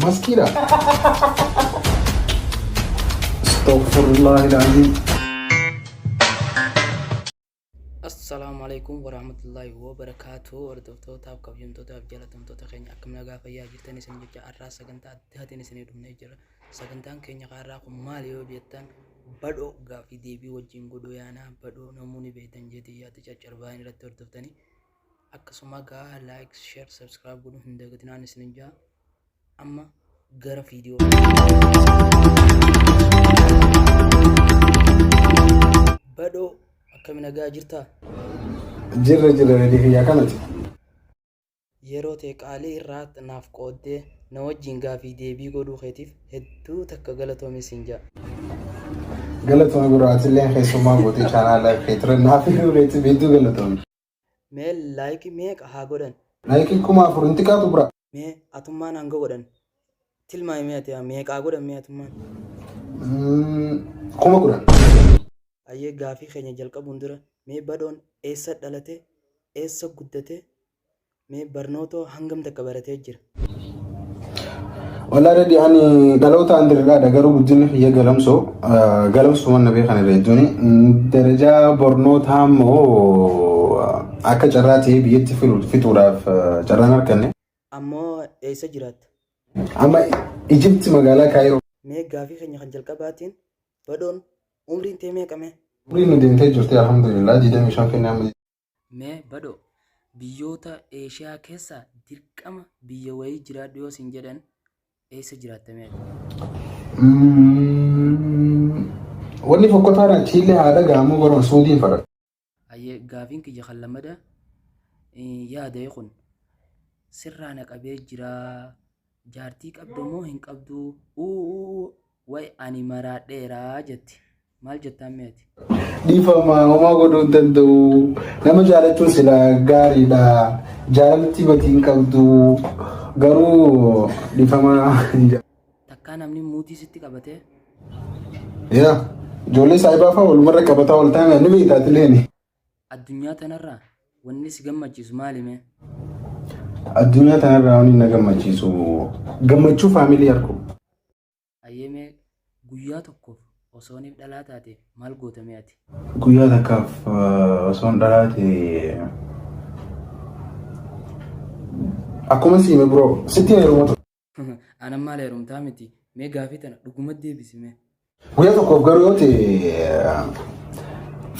Maskiidha. Astaghfirullah ilaahii. Assalaamu alaikum warahmatullahi wabarakatuh hordoftoota kabajamtootaaf jaalatamtoota keenya akkam nagaa fayyaa jirtan isin jecha har'aa sagantaa addaatiin isinii dhufnee jira sagantaan keenya har'aa kun maal yoo jettan badhoo gaaffii deebii wajjin godhuu yaanaa badhoo namoonni beektan jeetii yaada caccarbaan irratti hordoftanii akkasuma gaa like share subscribe godhuu hin dagatinaan isinin jaa amma gara viidiyoo badhoo akkami nagaa jirtaa Jirra jirra reedii kiyyaa kanati. yeroo tee qaalii irraa naaf qooddee na wajjin gaafii deebii godhuu keetiif hedduu takka galatoomi siin jaa Galatoon gurraatillee keessummaa goote chaanaa laayif keetirra naaf hiriireetti beektuu galatoon. Mee like meeqa haa godhan. Like kuma afur hin xiqaatu bra. Mee atummaan hanga godhan tilmaami mee ati meeqaa godhan mee atummaan. Kuma kudhan. Ayyee gaafii keenya jalqabuun dura mee badhoon eessa dhalate eessa guddate Mee barnootoo hangam takka baratee jira? Walaa dadhi ani dhaloota andirgaadha garuu guddinni kiyya galamsoo galamsoo manna beekan irra jechuun darajaa barnootaa immoo akka carraa ta'ee biyyatti fixuudhaaf carraan arganne. Ammoo eessa jiraatta? Amma Ijipti magaalaa Kaayiroo. Mee gaafii keenya kan jalqabaatiin badhoon umriin tee meeqa mee? Umriin nu deemtee jirti alhamdulillah 25 kennaa Me badhoo biyyoota Eeshiyaa keessa dirqama biyya wayii jiraadhu yoo sin jedhan eessa jiraatta mee ati? Wanni fokkotaan achiillee haa dhaga'amu garuu suudiin fadha. Hayyee gaafiin kiyya kan lammada yaada'e kun sirraa na qabee jiraa jaartii qabda moo hin qabduu uuu Way ani maraadheera jetti. Maal jettaan mee ati? Dhiifama homaa godhuu hin danda'u. Nama jaalachuun sila gaariidha. Jaalalatti badii hin qabdu. Garuu dhiifama hin jedhu. Takkaa namni muutii sitti qabatee? Yaa ijoollee saayibaa fa'aa walumarra qabataa wal taanaan ni beektaa tileeni. Addunyaa tanarraa wanni si gammachiisu maali mee? Addunyaa tanarraa wanni na gammachiisu gammachuu faamilii arguu. Hayyee mee guyyaa tokkoof osooniif dhalaa taate maal goota mee ati? Guyyaa takkaaf osoon dhalaa ta'e akkuma siime biroo sitti heeruma ture. Anan maal heerumtaa miti mee gaafii tana dhuguma deebisi mee. Guyyaa tokkoof garuu yoo ta'e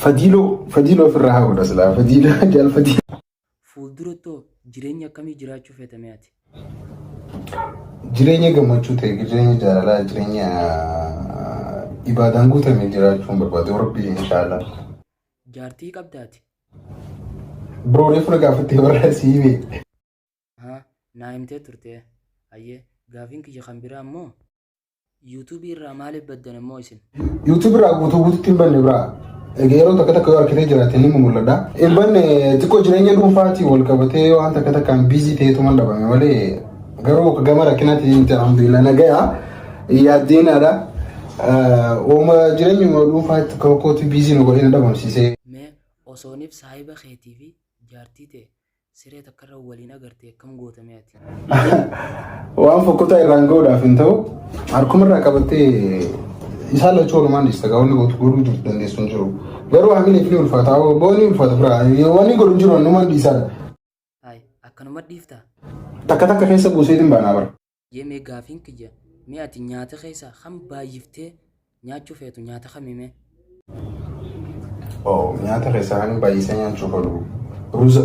fadiiloo fadiiloo ofirraa haa godha silaa fadiiloo jaal fadiiloo. Fuulduratto jireenya akkamii jiraachuu feeta mee ati? Jireenya gammachuu ta'e, jireenya jaalalaa, jireenya ibaadaan guutame jiraachuun barbaada yoo rabbii inshaallah. Jaartii qabda ati? Bro reefu na gaafattee barraa sii himee. Ahaa, naa himtee turtee. Ayyee, gaafiin kiyya kan biraa immoo. Yuutuubii irraa maaliif baddan immoo isin? YouTube irraa guutuu guututti hin banne biraa. Egaa yeroo takka takka yoo harkitee jiraate ni mul'adha. Hin banne xiqqoo jireenya dhuunfaatii wal qabatee yoo waan takka takkaan biizii ta'etu mal dhabame malee garuu gama rakkinaatiin hin ta'an biila nagaya yaaddeenaadha. Ooma jireenyuma dhuunfaatti kokkootti biizii nu godhee na dhabamsiisee. Mee osooniif saahiba keetii fi jaartii ta'e Siree takkarra waliin agartee akkam goota mee ati? Waan fokkotaa irraan ga'uudhaaf hin ta'u harkumarraa qabattee isaan lachuu walumaan dhiista gaa wanni gootu godhuu jirtu dandeessu hin jiru. Garuu hamileef ni ulfaata booni ulfaata biraa wanni godhu hin jiru hannumaan dhiisaa Haay akkanuma dhiiftaa? takka takka keessa buuseetiin baanaa bara. Hayyee mee gaafiin kiyya mee ati nyaata keessaa kan baay'iftee nyaachuu feetu nyaata kami mee? Oo nyaata keessaa kan baay'isee nyaachuu fedhu ruuza.